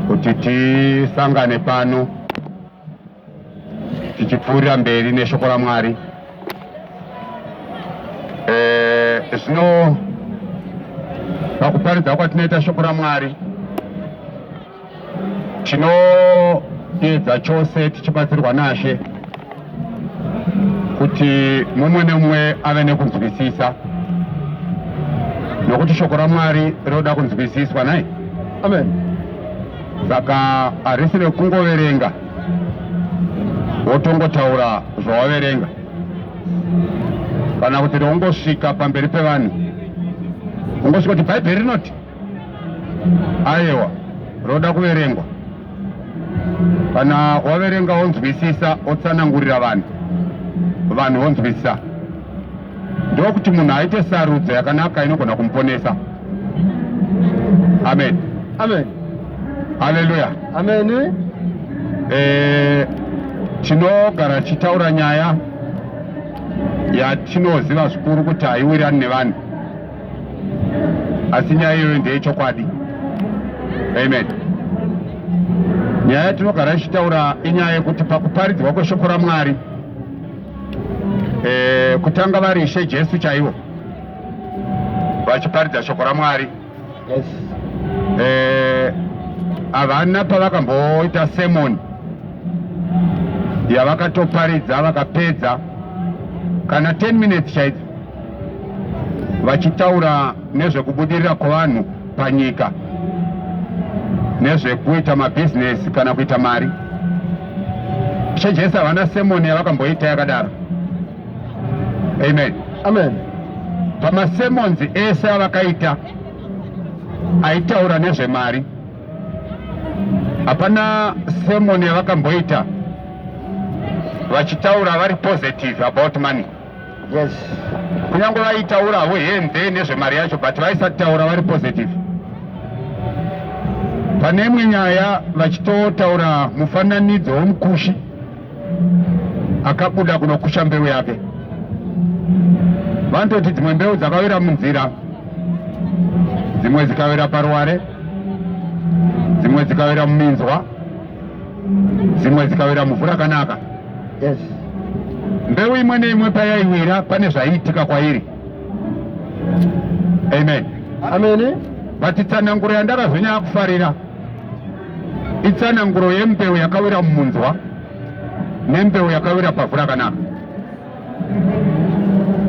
kuti tisangane pano tichipfuurira mberi neshoko raMwari. Eh, zvino pakuparidza kwatinoita shoko raMwari tinoedza chose tichibatsirwa nashe kuti mumwe nemumwe ave nekunzwisisa nokuti shoko ramwari rinoda kunzwisiswa nai amen saka harisi rekungoverenga wotongotaura zvawaverenga kana kuti reungosvika pamberi pevanhu ungosvika kuti bhaibheri rinoti ayewa roda kuverengwa kana waverenga wonzwisisa otsanangurira vanhu vanhu vonzwisisa ndokuti munhu aite sarudzo yakanaka inogona kumuponesa amen amen haleluya amen eh, tinogara tichitaura nyaya yatinoziva zvikuru kuti haiwirani nevanhu asi nyaya iyoyo ndeyechokwadi amen nyaya yatinogara ichitaura inyaya yekuti pakuparidzwa kweshoko ramwari e, kutanga vari ishe jesu chaivo vachiparidza shoko ramwari yes. e, havana pavakamboita semoni yavakatoparidza vakapedza kana 10 minutes chaidzo vachitaura nezvekubudirira kwevanhu panyika nezvekuita mabhizinesi kana kuita mari ishe jesu havana semoni yavakamboita yakadaro amen amen pamasemonzi ese avakaita aitaura nezvemari hapana semoni yavakamboita vachitaura vari positive about money yes kunyange vaitaura havo henze nezvemari yacho but vaisati taura vari positive pane imwe nyaya vachitotaura mufananidzo womukushi akabuda kunokusha mbeu yake vanototi dzimwe mbeu dzakawira munzira dzimwe dzikawira paruware dzimwe dzikawira muminzwa dzimwe dzikawira muvhu rakanaka yes. mbeu imwe neimwe payaiwira pane zvaiitika kwairi amen amene but itsananguro yandakazonyaya kufarira itsananguro yembeu yakawira mumunzwa nembeu yakawira pavhu rakanaka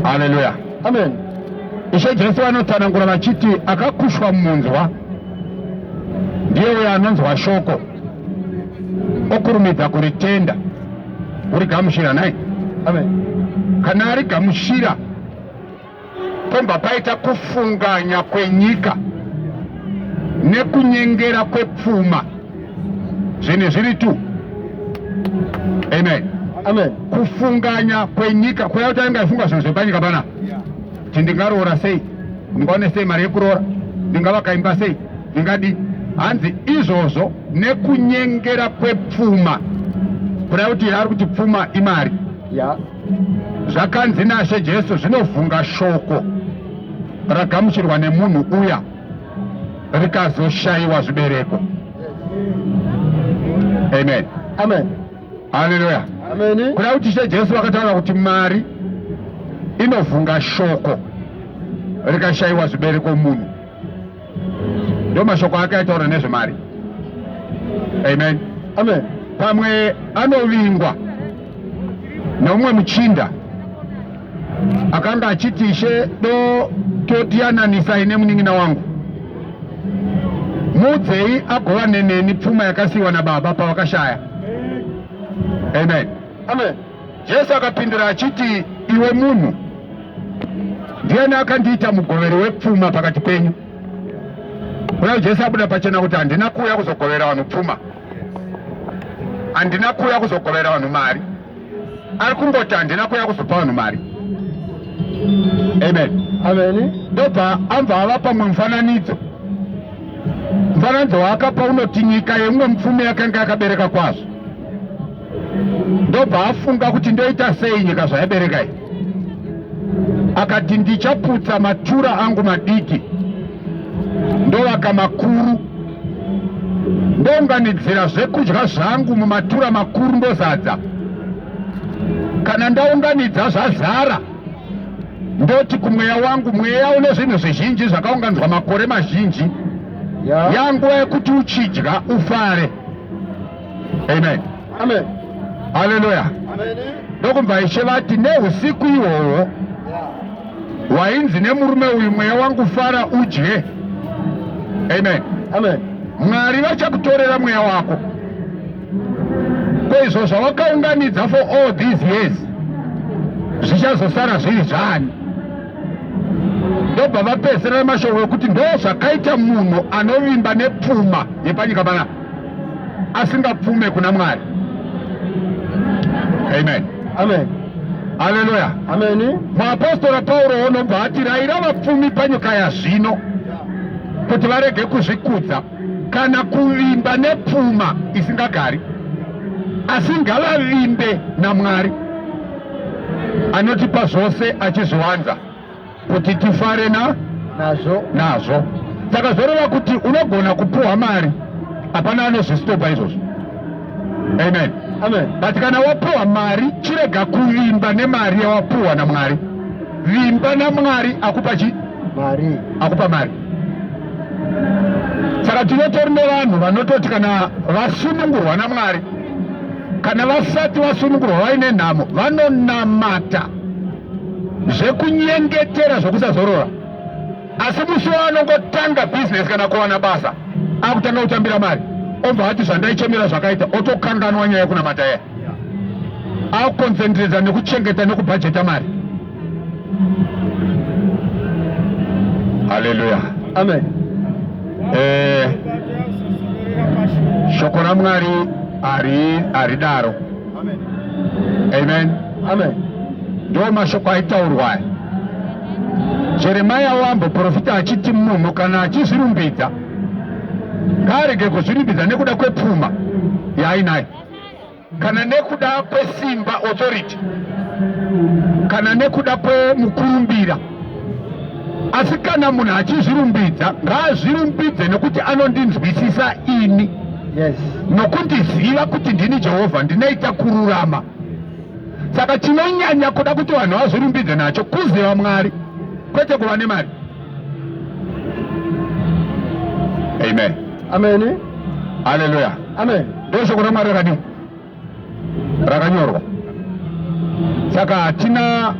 haleluya amen ishe jesu vanotsanangura vachiti akakushwa mumunzwa ndiye uyo anonzwa shoko okurumidza kuritenda urigamushira nai kana ari gamushira pombva paita kufunganya kwenyika nekunyengera kwepfuma zvinhu zviri tu amen amen kufunganya kwenyika kuya kuti ainge aifunga zvinhu zvepanyika pana kuti ndingaroora sei ndingaone sei mari yekuroora ndingavakaimba sei Ungadi hanzi izvozvo nekunyengera kwepfuma kuda kuti ari kuti pfuma imari ya zvakanzi nashe jesu zvinovhunga shoko ragamuchirwa nemunhu uya rikazoshayiwa zvibereko amen amen haleluya amen kuda kuti she jesu vakataura kuti mari inovhunga shoko rikashayiwa zvibereko munhu ndo mashoko ake aitaura nezvemari amen amen pamwe anovingwa neumwe muchinda akanga achiti ishe do totiyananisa ine munin'ina wangu muudzei agovane neni pfuma yakasiyiwa nababa pavakashaya amen amen Jesu akapindura achiti, iwe munhu, ndiyani akandiita mugoveri wepfuma pakati penyu? Uye Jesu abuda pachena kuti handina kuuya kuzogovera vanhu pfuma, handina kuuya kuzogovera vanhu mari. Ari kungoti handina kuuya kuzopa vanhu mari. Amen. Amen. Ndobva ambva ava pamwe mufananidzo. Mufananidzo waakapa unoti nyika yemumwe mupfumi yakanga yakabereka kwazvo. ndobva afunga kuti ndoita sei nyika zvayaberekai akati ndichaputsa matura angu madiki ndovaka makuru ndounganidzira zvekudya zvangu mumatura makuru ndozadza kana ndaunganidza zvazara ndoti kumweya wangu mweya une zvinhu zvizhinji zvakaunganidzwa makore mazhinji yanguva yekuti uchidya ufare yeah. amen amen haleluya ndokunzwa ishe vati neusiku ihwohwo wainzi nemurume uyu mweya wangu fara udye amen amen mwari vachakutorera mweya wako ko izvo zvawakaunganidza for all these years zvichazosara zviri zvani ndobva vapedzisira nemashoko ekuti ndo zvakaita munhu anovimba nepfuma yepanyika panapa asingapfume kuna mwari amen amen haleluya ameni muapostora pauro onobva ati raira vapfumi panyika yazvino kuti varege kuzvikudza kana kuvimba nepfuma isingagari asi ngavavimbe namwari anotipa zvose achizviwanza kuti tifare na nazvo nazvo saka zvoreva kuti unogona kupuhwa mari hapana anozvistopa izvozvo amen amen but kana wapuhwa mari chirega kuvimba nemari yawapuhwa namwari vimba namwari akupa chi mari akupa mari saka tinotori nevanhu vanototi kana vasunungurwa namwari kana vasati vasunungurwa vaine nhamo vanonamata zvekunyengetera zvokusazorora asi musi waanongotanga bhizinesi kana kuwana basa akutanga kutambira mari obva ati zvandaichemera zvakaita otokanganwa nyaya yekunamata iya akukonzentreta nekuchengeta nekubhajeta mari haleluya amen eh, shoko ramwari haridaro Amen. Amen. Amen. Ndiwo mashoko aitaurwa aya. Jeremia waamboprofita achiti munhu kana achizvirumbidza ngaarege kuzvirumbidza nekuda kwepfuma yaainayo kana nekuda kwesimba authority kana nekuda kwemukurumbira asi kana munhu achizvirumbidza ngaazvirumbidze nekuti anondinzwisisa ini yes. nokundiziva kuti ndini jehovha ndinoita kururama saka chinonyanya kuda kuti vanhu vazvirumbidze nacho kuziva mwari kwete kuva nemari amen amen haleluya amen ndozvokuda mwari akadii rakanyorwa saka hatina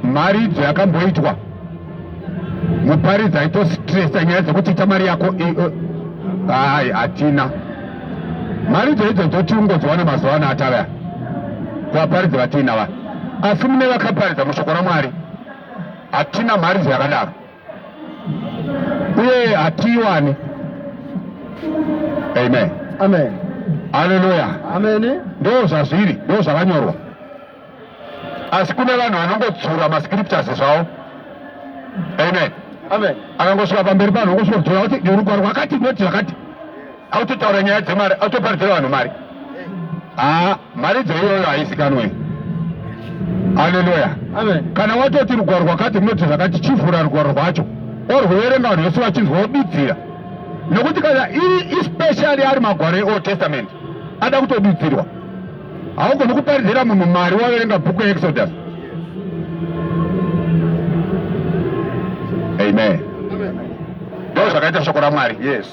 mharidzo yakamboitwa muparidzi aitositresa nyaya dzekuti ita mari yako hai hatina mharidzo idzo dzotiungodziwana mazuva ano atavaya kuvaparidzi vatiinava asi mune vakaparidza mushoko ramwari hatina mharidzo yakadaro uye hatiwane. Amen. Amen. Haleluya. Amen. Ndoo zvazviri, ndoo zvakanyorwa. Asi kune vanhu vanongodzura mascriptures zvavo. Amen. Amen. Akangosvika pamberi panhu ongosvika kudzura kuti rugwaro rwakati noti zvakati. Autotaura nyaya dzemari, autoparidzira vanhu mari. Ah. Mharidzo iyoyo haizikanwe. Haleluya. Amen. Kana watoti rugwaro rwakati runoti zvakati chivhura rugwaro rwacho orwuverenga vanhu vese vachinzwa wodudzira nokuti kana iri especially ari magwaro eold testament ada kutodudzirwa haugoni kuparidzira munhu mari waverenga bhuku yeexodus amen ndo zvakaita shoko ramwari yes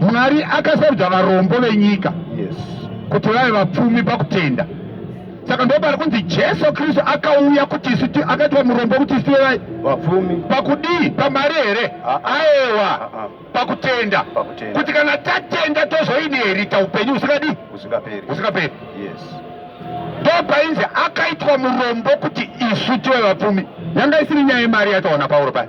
mwari akasarudza varombo venyika kuti vave vapfumi pakutenda saka ndo pari kunzi jesu kristu akauya kuti isu akaitwa murombo kuti isu vevai vapfumi pakudii pamari here ah, ah. aewa ah, pakutenda kuti kana tatenda tozoinherita upenyu husingadii husingaperi ndo painzi akaitwa murombo kuti isu tive vapfumi yanga isiri nyaya yemari yataona pauro paya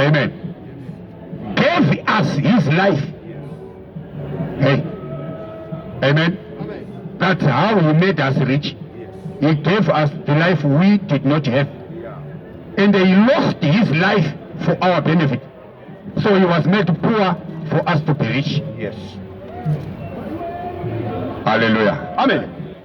amen gave us his life hey amen that's how he made us rich he gave us the life we did not have and he lost his life for our benefit so he was made poor for us to be rich yes hallelujah amen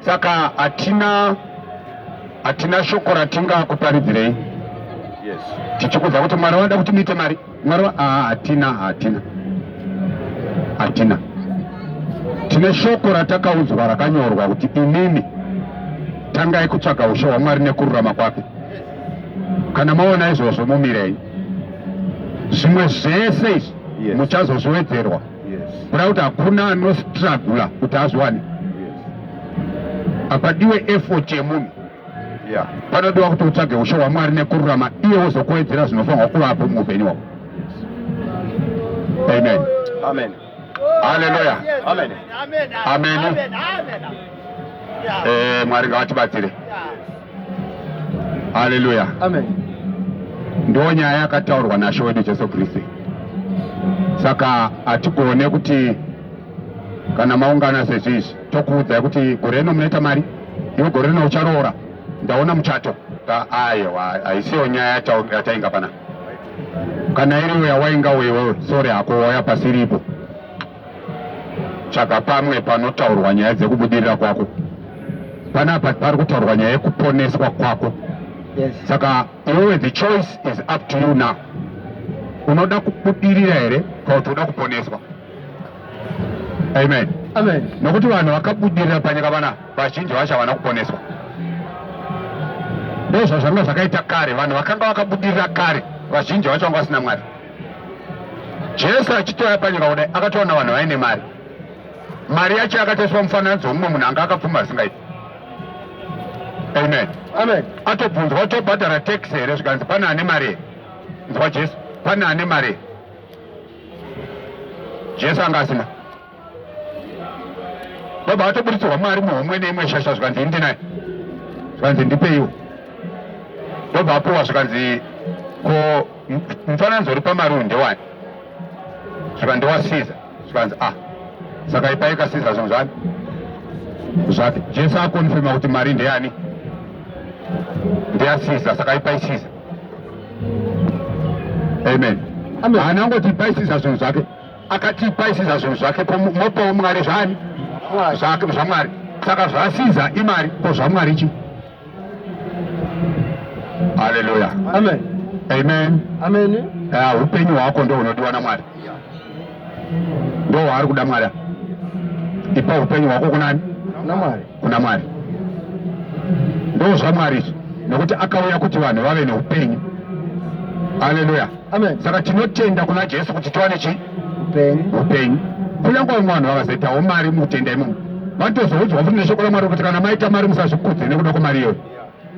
Saka hatina hatina shoko ratingakuparidzirei. Yes. Tichikuudza kuti Mwari vanoda kuti muite mari. Mwari ah, hatina hatina hatina. Tine shoko ratakaudzwa rakanyorwa kuti inini tangai kutsvaga ushe hwaMwari nekururama kwake. Kana maona izvozvo mumirei. Zvimwe zvese izvi muchazozviwedzerwa. kuda kuti hakuna anostragula kuti azwane apadiwe effort yemunhu panodiwa kuti utsvage ushe hwamwari nekururama iye wozokuwedzera zvinofanirwa kuvapo muupenyu hwako amen amen haleluya amen amen amen eh, mwari ngavatibatsire haleluya amen ndo nyaya yakataurwa nashe wedu jesu kristu saka hatigone kuti kana maungana sezvizvi tokuudzai kuti gore rino munoita mari iwe gore rino ucharoora ndaona muchato ayewa haisiyo nyaya yatainga pana kana iriyo yawainga wewe sori hako waya pasiripo tsvaga pamwe panotaurwa nyaya dzekubudirira kwako panapa pari kutaurwa nyaya yekuponeswa kwako saka iwewe the choice is up to you now unoda kubudirira here kana kuti unoda kuponeswa amen amen nokuti vanhu vakabudirira panyika vana vazhinji vacho havana kuponeswa ndozvazvanga zvakaita kare vanhu vakanga vakabudirira kare vazhinji vacho vanga vasina mwari Jesu achitouya panyika kudai akatoona vanhu vaine mari. Mari yacho yakatoiswa mufananidzo wemumwe munhu anga akapfuma asingaiti. Amen. Amen. Atobvunzwa tobhadhara tax here zvikanzi pane ane mari. Nzwa Jesu, pane ane mari. Jesu anga asina. vabva vatoburitsirwa mari muhomwe neimwe shasha zvikanzi indi naye zvikanzi ndipeiwo vabva vapuwa zvikanzi ko mufananidzo uri pamari uyu ndewani zvikanzi wasiza zvikanzi a ah, saka ipai kasiza zvinhu zvani zvake jesu akonfirma kuti mari ndeyani ndeyasiza saka ipai siza amen haana ngoti ipai siza zvinhu zvake akati ipai siza zvinhu zvake mopawo mwari zvani zvamwari saka zvasiza imari ko zvamwari chi haleluya amen amen amen uh, upenyu hwako ndo unodiwa namwari ndo waari kuda mwari ipa upenyu hwako kunani namwari kuna Mwari. Ndozvamwari izvi nokuti akauya kuti vanhu vave neupenyu. Haleluya, amen. Saka tinotenda kuna Jesu kuti tiwane chi upenyu. Kunyange vamwe vanhu vakazoitawo mari mukutenda imomo vanotozoudzwa futi neshoko raMwari kuti kana maita mari musazvikudze nekuda kwemari iyoyo,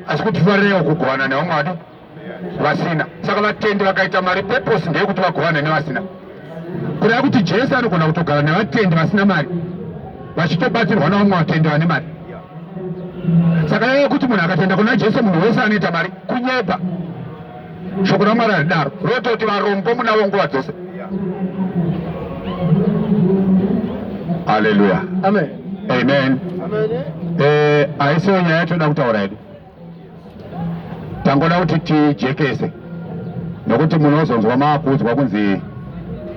asi kuti farirewo kugovana nevamwe vadi vasina saka vatendi vakaita mari purpose ndeyekuti vagovane nevasina kureva kuti jesu anogona kutogara nevatendi vasina mari vachitobatsirwa navamwe vatendi vane mari saka yava kuti munhu akatenda kuna jesu munhu wese anoita mari kunyeba shoko ramwari haridaro rototi varombo munavo nguva dzose aleluya amen amen eh, haisiwo nyaya yatoda kutaura yedu tangoda kuti tijekese nokuti munozonzwa maakuudzwa kunzi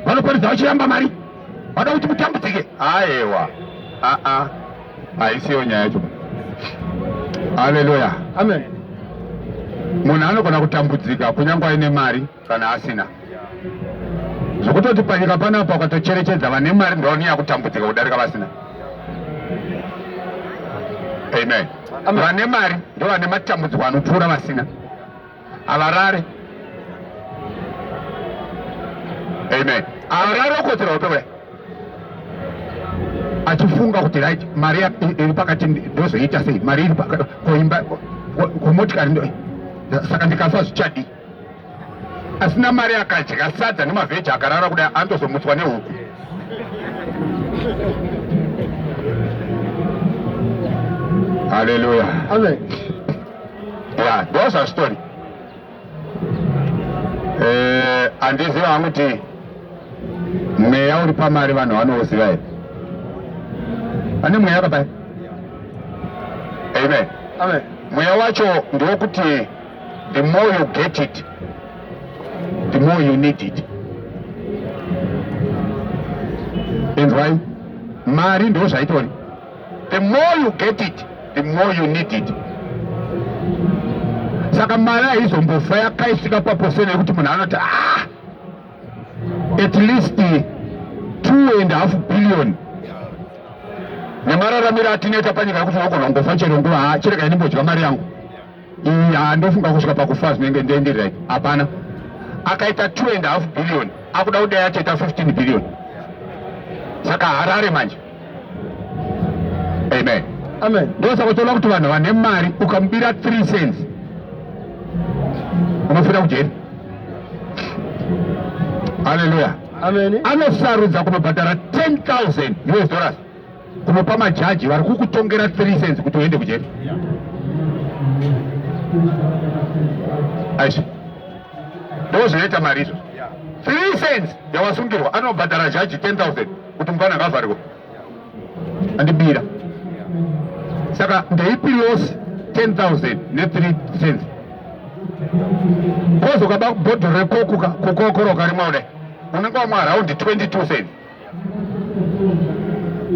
vanoparidza vachiramba mari vada kuti mutambudzike aewa aa haisiyo nyaya yacho haleluya amen munhu anogona kutambudzika kunyange aine mari kana asina zvokutoti panyika panapa ukatocherechedza vane mari ndoni yakutambudzika kudarika vasina amen vane mari ndo vane matambudziko anopfuura vasina havarare amen havarare okotsera hope kudai achifunga kuti right mari iri pakati ndozoita sei mari iri koimba komotikari saka ndikafa zvichadii asina mari akadya sadza nemavheji akarara kudai antozomutswa nehuku haleluya ya ndoza story eh, handiziva hangu kuti mweya uri pamari vanhu vanouziva here vane mweya papai amen mweya wacho ndewokuti The more you get it, the more you need it. Inzwai, mari ndo zvaitori. The more you get it, the more you need it. Saka mari haizombofa yakaisvika paposera yekuti munhu anoti ah, at least two and half billion nemararamiro atinoita panyika yekuti unogona kungofa chero nguva chirega ini mbodya mari yangu Iya ndofunga kusvika pakufa zvinenge ndoenderera hapana. Akaita 2 and half billion akuda kudai achaita 15 billion. Saka Harare manje. Amen. Amen. Ndosaka uchiona kuti vanhu vane mari ukamubira 3 cents unofira kujeri. Hallelujah. Amen. Anosarudza kunobhadhara 10,000 US dollars. unopa majaji vari kukutongera 3 cents kuti uende kujeri aisvo ndo zvinoita mari izvo 3 cents yawasungirwa anobhadhara jaji 10000 kuti mufana ngavharirwa andibira saka ndeipi loss 10000 ne3 cents kozoka bakubhodhora kokuka kukokoroka rimwe kudai unenge wamwa araundi 22 cents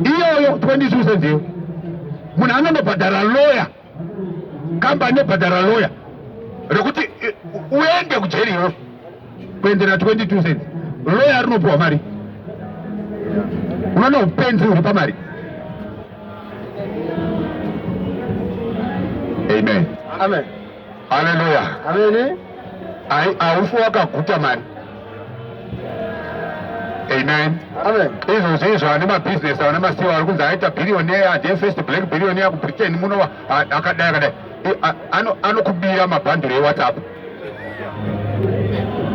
iyoyo 22 cents iyo munhu anonobhadhara loya kambani inobhadhara loya rekuti eh, uende kujeri iwe kuendera 22 cents loya rinopiwa mari unoona upenzi huri pamari amen amen Haleluya. Amen. Ai aufi wakaguta mani. Amen. Amen. Izvo zvinhu ane mabusiness ane masiwa ari kunzi aita billionaire ndiye first black billionaire kuBritain muno akadai akadai anokubira mabhandiro ewhatsapp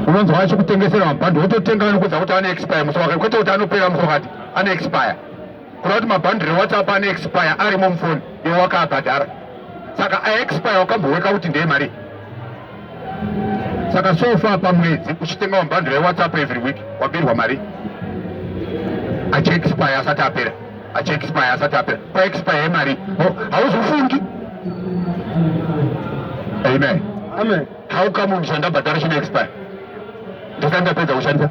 unonzwa achikutengesera mabhandiro wototenga anokuudza kuti ane expire musi wakati kwete kuti anopera musi wakati ane expire kureva kuti mabhandiri ewhatsapp ane expire arimo mufoni iwe wakaabhadhara saka aexpire wakamboweka kuti ndeye mari saka sofa pamwedzi uchitenga mabhandiri ewhatsapp every week wabirwa mari achiexpire asati apera achiexpire asati apera paexpire yemari hauzofungi amen amen how come ndishandabhadhara chinoexpire ndisati ndapedza kushandisa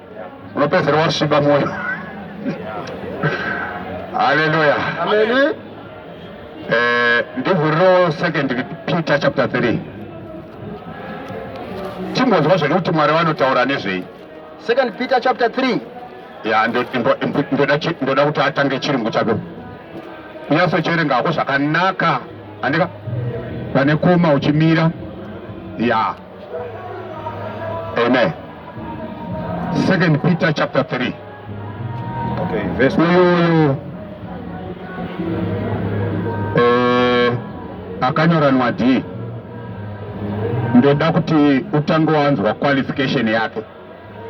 unopedzera wasviba mwoyo haleluya amen eh ndivhuriro second peter chapter 3 timbonzwa zvedu kuti mwari vanotaura nezvei second peter chapter 3 ya ndoda kuti atange chirungu chako kunyaso cherenga hako zvakanaka andika pane kuma uchimira ya Amen. Second Peter chapter 3. Okay, verse uyu eh, akanyora nwadii ndoda kuti utange wanzwa qualification yake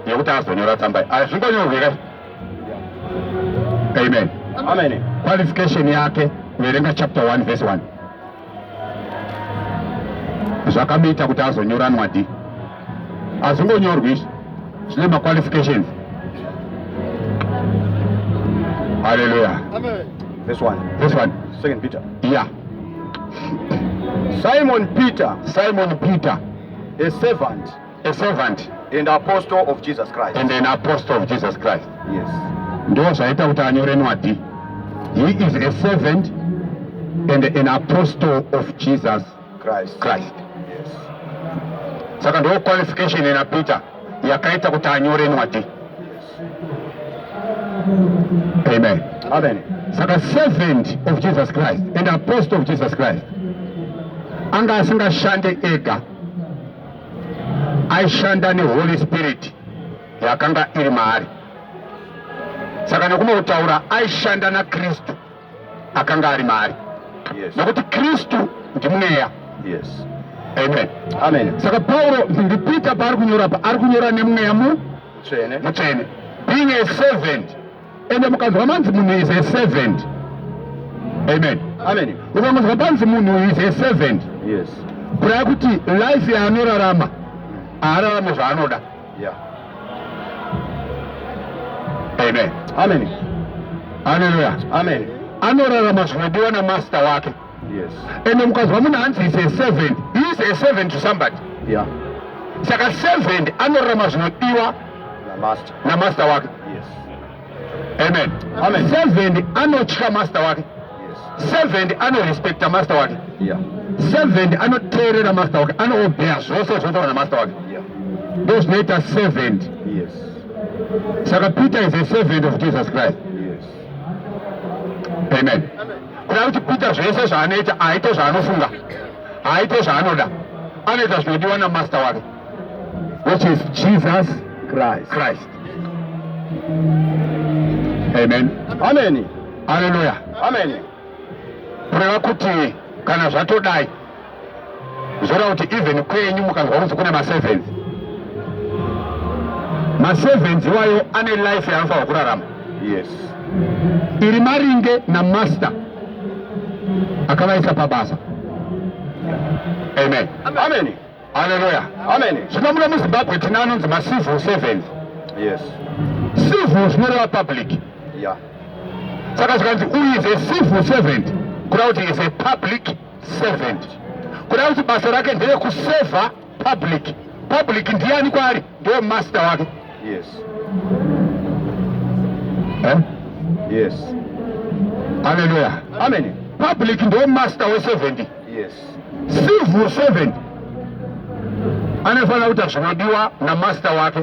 yekuti azonyora tsamba hazvingonyorwe ka amen qualification yake verenga chapter 1 verse 1 zvakamuita kuti azonyora nwadhi azvingonyorwi izvi zvine maqualifications haleluya Verse 1. Verse 1. Second Peter. Yeah. Simon Peter. Simon Peter. A servant. a servant and apostle of Jesus Christ and an apostle of Jesus Christ yes ndo zvaita kuti anyore nwadi he is a servant and an apostle of Jesus Christ Christ yes saka ndo qualification ina Peter yakaita kuti anyore nwadi yes. amen amen saka servant of Jesus Christ and apostle of Jesus Christ anga asingashande ega aishanda neholy spirit yakanga iri maari saka nekumwe kutaura aishanda nakristu akanga ari maari yes. nekuti kristu ndimweya yes. amen. amen saka pauro ndipita paari kunyora pa ari kunyora nemweya mutsvene being a servant ende mukanzwa manzi munhu is a servant amen amen ukangonzwa panzi munhu is a servant yes kuraya kuti life yaanorarama haararame zvaanoda yeah. amen amen haleluya amen anorarama zvinodiwa namaster wake yes. and mukazwa munhu hanzi is a servant he is a servant to somebody yeah. saka servant anorarama zvinodiwa namaster wake yes. amen, amen. servant anotya master wake yes. servant anorespecta master wake yeah. servant anoteerera master wake anoobea zvose zvinotaura namaster wake yeah. ndo zvinoita servant yes. saka peter is a servant of jesus christ yes. amen, amen. kuda kuti peter zvese zvaanoita aite zvaanofunga aite zvaanoda anoita zvinodiwa namaster wake which is jesus christ, christ. amen amen haleluya amen kureva kuti kana zvatodai zvoda kuti even kwenyu mukanzwa kunzi kune masevenzi masevenzi iwayo ane life yaanofanirwa kurarama yes iri maringe namaster akavaisa pabasa amen amen haleluya amen zvino muno muzimbabwe tina anonzi macivil sevenzi yes civil zvinoreva public yeah saka zvikanzi uyu is a civil servant kuda kuti is a public servant kuda kuti basa rake ndere kuseva public public ndiani kwaari ndiwe master wake yes eh? yes haleluya amen public ndiwe master weservant yes civil servant anofanira kuita zvinodiwa namaster wake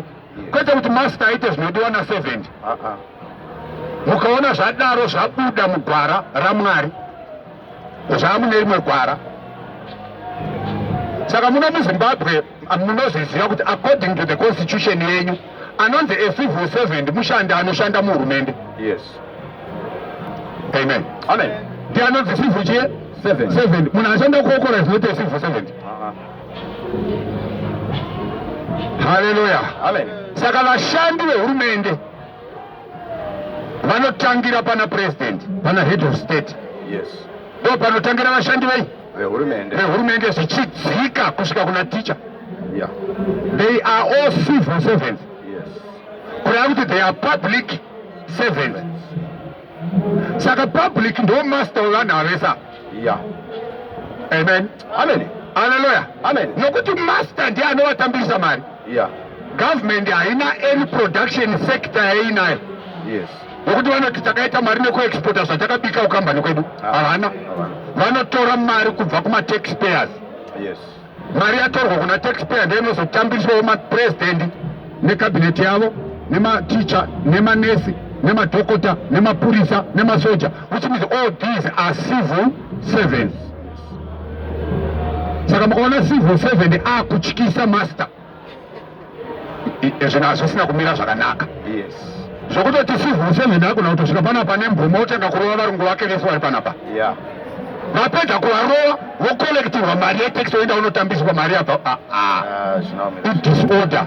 kwete kuti master aite zvinodiwa naservant uh-uh. mukaona zvadaro zvabuda mugwara ramwari zvamune rimwe gwara saka muno muzimbabwe munozviziva kuti according to the constitution yenyu anonzi a civil servant mushandi anoshanda muhurumende yes amen amen ndi anonzi civil chie servant munhu anoshanda kuokora is not a civil servant uh-huh. haleluya saka vashandi vehurumende vanotangira pana president pana head of state yes ndo panotangira vashandi vei vehurumende vehurumende zvichidzika kusvika kuna ticha yeah. they are all civil servants yes. kureva kuti they are public servants saka public ndo master wevanhu avesa yeah. amen Amen. Hallelujah. Amen. Nokuti master ndiye anovatambirisa mari. Yeah. Government haina any production sector yainayo. Yes. Nokuti vanoti takaita mari nekuexporta zvatakabika ukambani kwedu. Ah. Havana. Vanotora mari kubva kuma taxpayers. Yes. Mari yatorwa kuna taxpayer ndiyo inozotambiswawo mapresident nekabineti yavo nematicha nemanesi nemadhokota nemapurisa nemasoja which means all these are civil servants saka mukaona civil servant akutyisa master zvinhu hazvisina kumira zvakanaka zvokutoti civil servant akuna kutosvika panapa nemvumo otanga kurova varungu vake vese vari panapa vapedza kuvarova vocollectirwa mari yetax oenda unotambiswa mari yabva ah, ah. ah, idisorder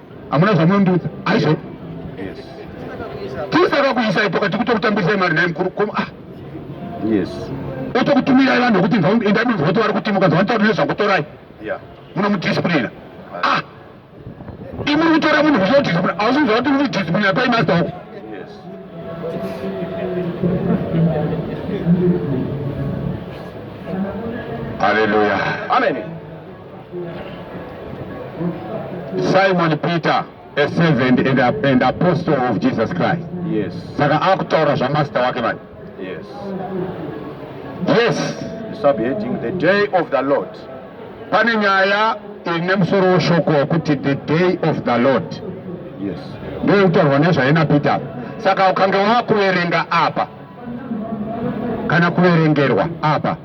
Hamuna zvamunondiudza. Aisho. Yes. Tisa kakuisa ipo kati kutokutambisa imari naye mkuru koma. Ah. Yes. Oto kutumira ivana kuti nzva enda nzva kuti vari kuti mukazi vantauri nezva kutorai. Yeah. Muno mudiscipline. Ah. ah. Imuri kutora munhu zvo discipline. Ausi nzva kuti muri discipline apa imaster wako. Yes. Hallelujah. Amen. Simon Peter a servant and, a, and apostle of Jesus Christ. Yes. Saka akutaura zvamaster wake manje. Yes. Yes. Subheading the day of the Lord. Pane nyaya ine musoro weshoko wekuti the day of the Lord. Yes. Ndiyo kutaurwa nezvaina Peter. Saka ukange wakuverenga apa kana kuverengerwa apa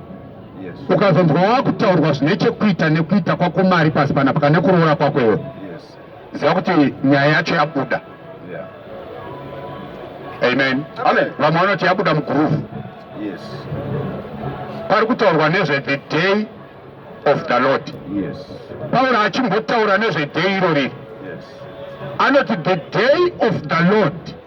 ukazonzwa wakutaurwa zvine chekuita nekuita kwako mari pasi panapa kana kuroora kwako iwe ziva kuti nyaya yacho yabuda amen vamwe vanoti yabuda muguruvu pari kutaurwa nezve the day of the lord pauro achimbotaura nezve day irori anoti the day of the lord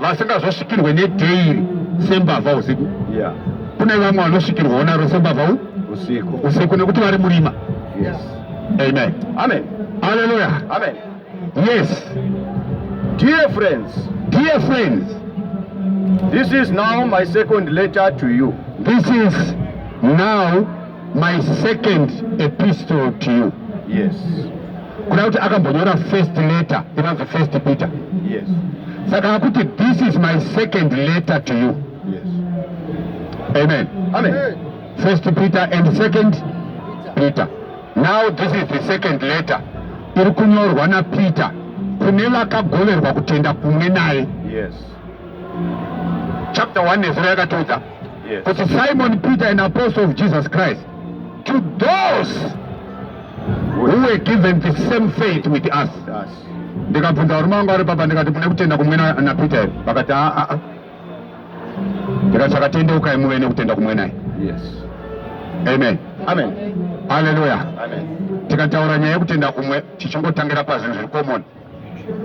vasingazosvikirwe nedhairi sembavha usiku yeah. kune vamwe vanosvikirwawo naro sembavha usiku usiku nekuti vari murima yes. amen amen haleluya amen yes dear friends dear friends this is now my second letter to you this is now My second epistle to you. Yes. Kuna kuti akambonyora first letter inonzi first Peter. Yes. Saka akuti this is my second letter to you. Yes. Amen. Amen. First Peter and second Peter. Now this is the second letter iri kunyorwa naPeter kune vakagoverwa kutenda kumwe naye. Yes. chapter 1 nezero yakatiudza yes. kuti simon peter an apostle of jesus christ to those who were given the same faith with us ndikabvunza varume vangu vari papa ndikati mune kutenda kumwe napeter here vakati aa ah, ah, ah. ndikati sakatendeukai muve nekutenda kumwe naye yes. amen amen haleluya tikataura nyaya yekutenda kumwe tichingotangira pazvinhu zviri komoni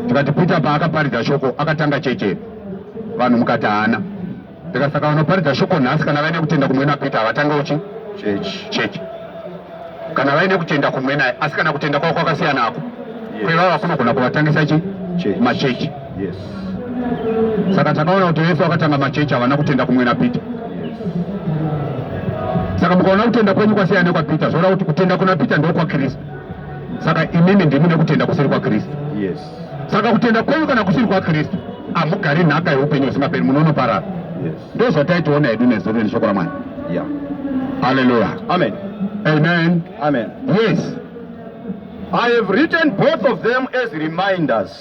tikati Peter paakaparidza shoko akatanga cheche vanhu mukati haana ndikasaka vanoparidza shoko nhasi kana vaine kutenda kumwe napeter havatange uchi chechi kana vaine kutenda kumwe naye asi kana kutenda kwavo kwakasiyana ako kwevava kunogona kuvatangisa chi machechi saka takaona kuti vese vakatanga machechi havana kutenda kumwe napeter saka mukaona kutenda kwenyu kwasiyana nekwapeter zvoda kuti kutenda kuna peter ndokwakristu saka imimi ndimi nekutenda kusiri kwakristu yes. saka kutenda kwenyu kana kusiri kwakristu hamugari nhaka yeupenyu husingaperi munonoparara yes. ndo zvataitiona hedu nezuro neshoko ramwari yeah. haleluya amen amen amen yes i have written both of them as reminders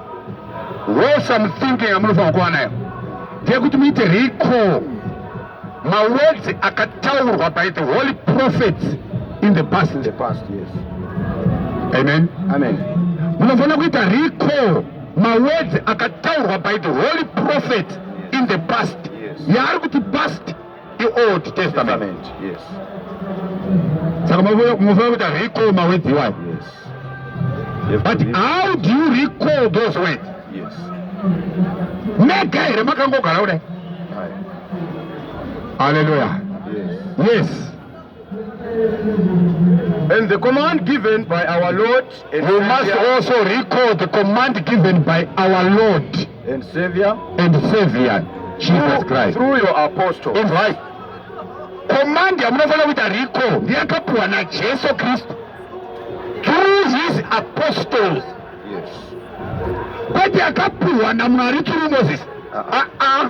wholesome thinking yamunofanira kuva nayo ndeyekuti muite recall mawords akataurwa by the holy prophets in the past in the past yes amen amen munofanira kuita recall mawords akataurwa by the holy prophet in the past yaari kuti past Old Testament. Yes. Saka munofanira kuita recall mawedzi iwayo. Yes. But how do you recall those words? Yes. Mega here makangogara kudai? Hallelujah. Yes. Yes. And the command given by our Lord and We must also recall the command given by our Lord and Savior and Savior Jesus Christ through your apostle. All right. Command yamunofanira kuita recall ndiyakapiwa naJesu Kristu through his apostles. Yes. Kwete yakapiwa naMwari through Moses. Uh-uh. Uh-uh.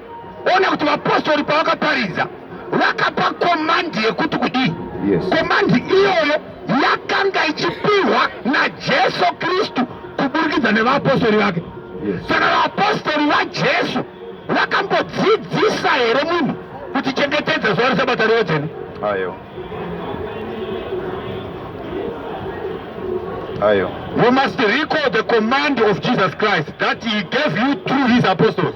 Ona kuti vapostori pavakaparidza vakapa komandi yekuti kudii? Yes. Komandi iyoyo yakanga ichipihwa naJesu Kristu kuburikidza nevapostori vake. Yes. Saka vapostori vaJesu vakambodzidzisa here munhu kuti chengetedza zuva reSabata rive dzvene? Ayo. Ayo. You must recall the command of Jesus Christ that he gave you through his apostles.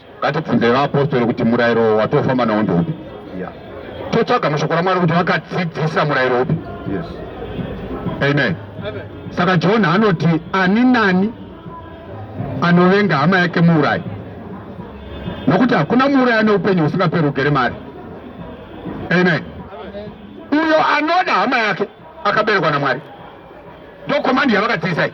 Ngatibvunzei vaapostori kuti murayiro watofamba nawo ndeupi? Totsvaga mashoko raMwari kuti vakadzidzisa murayiro upi? Amen. Saka John anoti ani nani anovenga hama yake muurayi, nokuti hakuna muurayi ane upenyu husingaperi ugere mari. Amen. Uyo anoda hama yake akaberekwa naMwari. Ndokomandi yavakadzidzisai.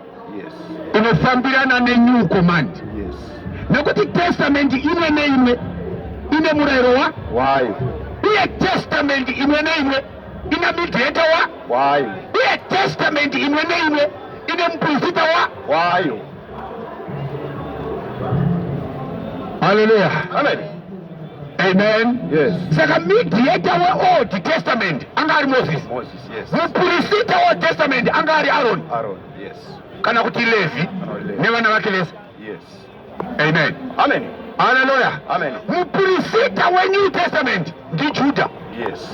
inofambirana nenew command yes. nekuti testament imwe neimwe ine murayiro wa why uye testament imwe neimwe ina midheta wa why uye testament imwe neimwe ine muprofita wa why haleluya amen amen yes saka midheta weold testament anga ari moses moses mupurisita yes. wetestament anga ari aroni yes. kana kuti levi nevana vake vese yes. amen amen haleluya amen mupurisita wenew testament ndijuda yes.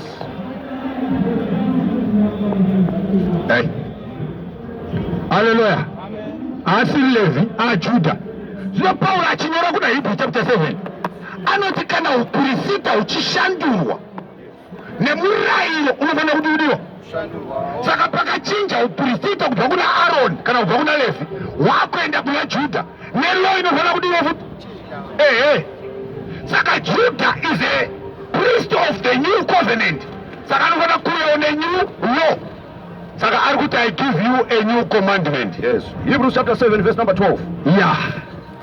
hey. haleluya asi levi ajuda zvino pauro achinyora kuna hebrew chapter 7 anoti kana upurisita uchishandurwa nemurayiro unofanira kuti udiwo saka pakachinja upristita kubva kuna aroni kana kubva kuna levi wakuenda kuna judha nelo inofanira kudiwa futi ehe saka judha is a priest of the new covenant saka anofanira kuuyawo nenew law saka ari kuti i give you a new commandment yes hebrews chapter 7 verse number 12 ya yeah.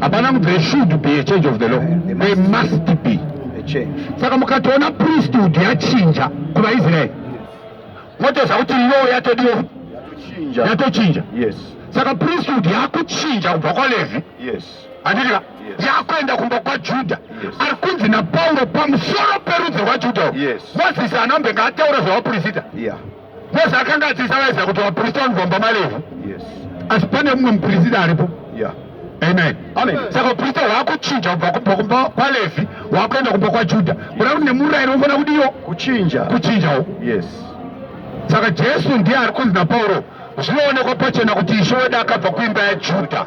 hapana kuti there should be a change of the law there must be saka mukatoona priesthood yachinja kuvaisraeri motoziva kuti law yatodiwa yatochinja saka priesthood yakuchinja kubva kwalevi handitika yakuenda kumba kwajudha ari kunzi napauro pamusoro perudzi rwajudha mozisi anambe ngaataura zvavapurisita Mose akanga adzidzisa vaIsraeri kuti vaprista vanobvamba malevhu asi pane mumwe muprista aripo amen amen saka uprista hwakuchinja kubva kubva kumba kwalevi hwakuenda kumba kwajuda kuda kuti nemurayiro unofanira kudiwo kuchinja kuchinjawo yes saka jesu ndiye ari kunzi napauro zvinoonekwa pachena kuti ishe wedu akabva kuimba yajuda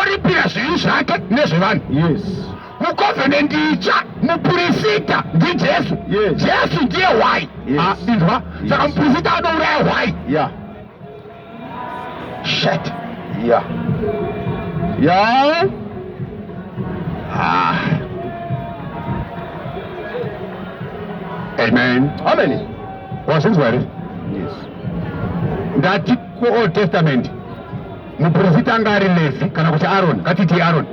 oripira zvivi zvake nezvevanhu yes mucovenant itsva mupurisita ndijesu yes. jesu ndiye hwai yes. ah, inzwa yes. saka mupurisita anouraya hwai yeah. shet yeah. yeah. ah. amen amen wazvinzwa here yes ndati kuold testament Muprofita anga ari Levi kana kuti Aroni, ngatiti Aroni.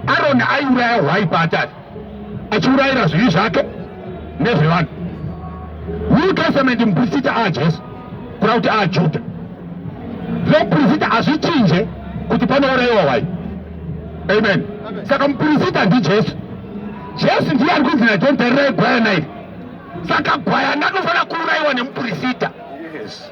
Aroni aiuraya hwai paatari, achiurayira zvivi zvake nezvevanhu. New Testament muprofita aa Jesu, kuna kuti aa Juda. Muprofita hazvichinje kuti panourayiwa hwai. Amen. Saka muprofita ndiJesu. Jesu ndiye ari kunzi naJohn tarirai gwayana iri. Saka gwayana anofanira kuurayiwa nemuprofita. Yes.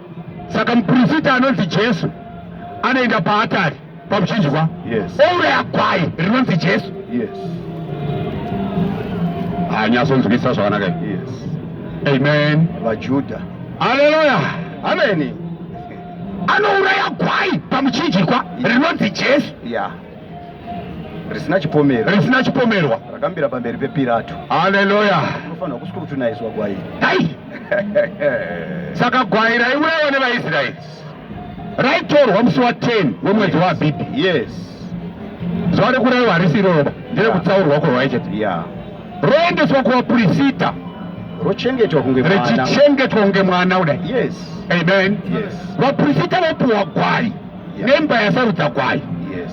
saka muprofita anonzi jesu anoenda paatari pamuchinjwa yes. ouraya gwai rinonzi jesu yes. hanyasonzwisa zvakanaka yes. amen vajuda aleluya ameni anouraya gwai pamuchinjikwa rinonzi jesu yeah. risina chipomerwa risina chipomerwa rakamira pamberi pepirato haleluya unofanira kusvika kuti unaizwa gwai dai saka gwai raiurayiwa nevaisraeri raitorwa musi wa 10 wemwedzi waabhibhi yes zuva rekurayiwa harisi iroroba nderekutsaurwa kwevaijeti yeah. roendeswa kuvapurisita rochengetwa kunge richichengetwa kunge mwana kudai yes amen yes vapurisita vopiwa gwai nemba yasarudza kwayo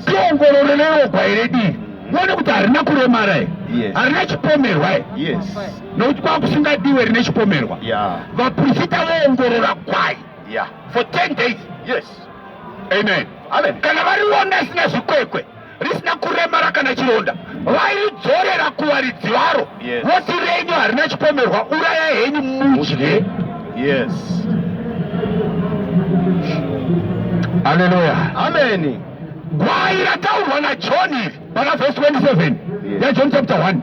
tiongorore newo gwai redii muone kuti harina kuremara here harina chipomerwa here nokuti kwakusingadiwe rine chipomerwa vaprofita voongorora gwai for 10 days amen kana variona sina zvikwekwe risina kuremara kana chironda vairidzorera kuwaridzi varo voti yes. renyu harina chipomerwa uraya henyu mudye yes aleluya ameni gwai rataurwa najoni iri pana vhesi 27 yajoni chapter 1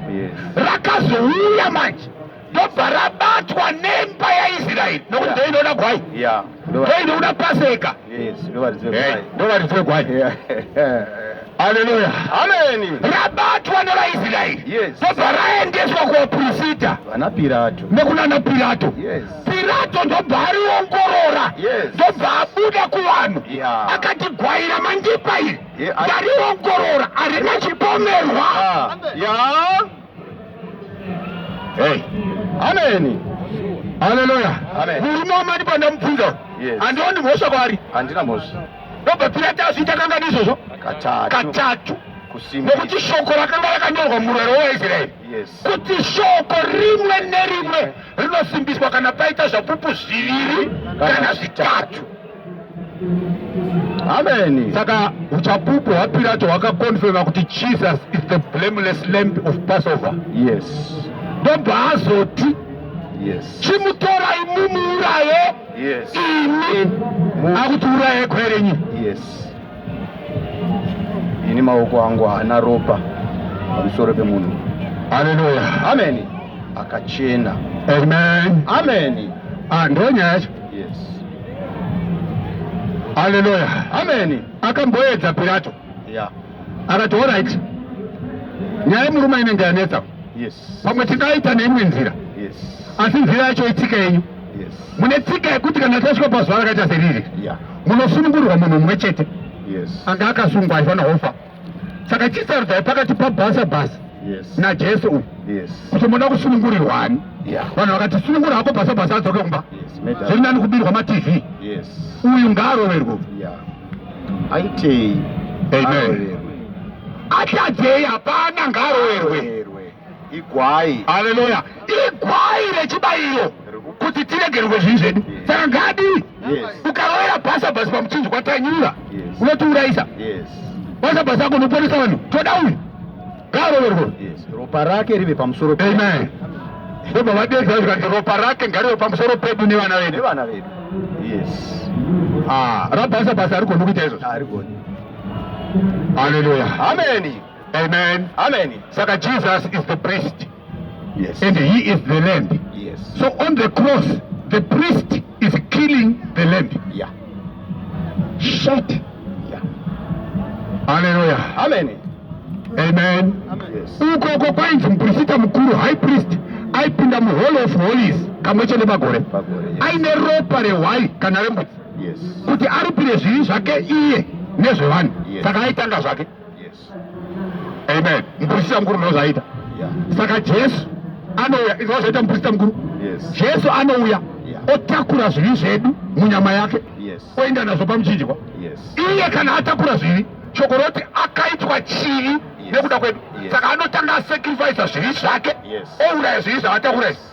rakazouya manje ndobva rabatwa nemba yaisraeri nokuti ndo inoda gwai ndo inoda paseka ndovaridzwe gwai haleluya ameni rabatwa nevaisraeri ndobva raendeswa kuvaprofita vanapirato nekunana pirato pirato ndobva ariongorora ndobva abuda kuvanhu akati gwai ramandipa iri ndariongorora harina chipomerwa ah. Hey. Amen. Haleluya. Murume wamati pandamubvunza handioni mhosva kwaari. Handina mhosva. Ndobva Piratasi itakanga ndizvozvo katatu nokuti shoko rakanga rakanyorwa murwere waisraeri kuti shoko rimwe nerimwe rinosimbiswa kana paita zvapupu zviviri kana zvitatu Amen. Saka uchapupu hwaPirato hwakakonfirma kuti Jesus is the blameless lamb of Passover. Yes. Ndobva azoti yes. Chimutorai mumuuraye yes. imi akutiuraye kwerenyi yes. Ini maoko angu haana ropa pamusoro pemunhu. Haleluya. Amen. Akachena. Amen. Amen. Ah, ndonyaya Yes. Haleluya. Amen. Akamboedza Pilato. Yeah. Akati all right. Nyaya murume inenge yanetsa. Yes. Pamwe tingaita neimwe nzira. Yes. Asi nzira yacho itsika yenyu. Yes. Mune tsika yekuti kana tasvika pazuva rakaita seriri. Yeah. Munosunungurwa munhu mumwe chete. Yes. Anga akasungwa aifanira kufa. saka chisarudzai pakati pabhasa bhasa yes. najesu uyu yes. kuti munoda kusunungurirwani yeah. vanhu vakati sunungura hako bhasa bhasa adzoke kumba yes. zviri nani kubirwa matv yes. uyu ngaaroverwe yeah. aitei atadzei hapana ngaaroverwe igwai haleluya igwai rechibayiro kuti tiregerwe zvinhu zvedu saka ngadi ukaroera basa basi pamuchinjwa tanyura unotiurayisa basa basa ako unoponesa vanhu toda uyu ngaaroverwe ropa rake rive pamusoro amen ndobva vadedza zvikanzi ropa rake ngarive pamusoro pedu nevana vedu nevana vedu yes ah rabasa basa arigoni kuita izvozvo arigoni haleluya ameni Amen. Amen. Saka Jesus is the priest. Yes. And he is the lamb. Yes. So on the cross, the priest is killing the lamb. Yeah. Shut. Yeah. Hallelujah. Amen. Amen. Amen. Ukoko kwainzi muprista mukuru high priest aipinda muhall of holies kamwe chete pagore aine ropa rehwai kana rembudzi kuti aripire zvivi zvake iye nezvevanhu saka aitanga zvake amen muprista mukuru ndozvaita saka jesu anouya izvi zvaita muprista mukuru jesu anouya otakura zvivi zvedu munyama yake oenda nazvo pamuchinjwa iye kana atakura zvivi shoko roti akaitwa chivi nekuda kwedu saka anotanga asacrifisa zvivi zvake ouraya zvivi zvavatakura izvi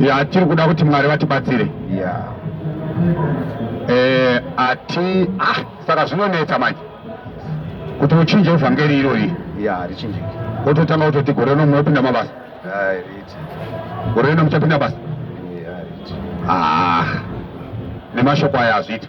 ya tiri kuda kuti mwari vatibatsire yeah. eh, ati ah, saka zvinonetsa manje kuti uchinje evhangeri irori yeah, wototanga kutoti gore rino munopinda mabasa gore rino muchapinda basa ah, nemashoko aya hazviiti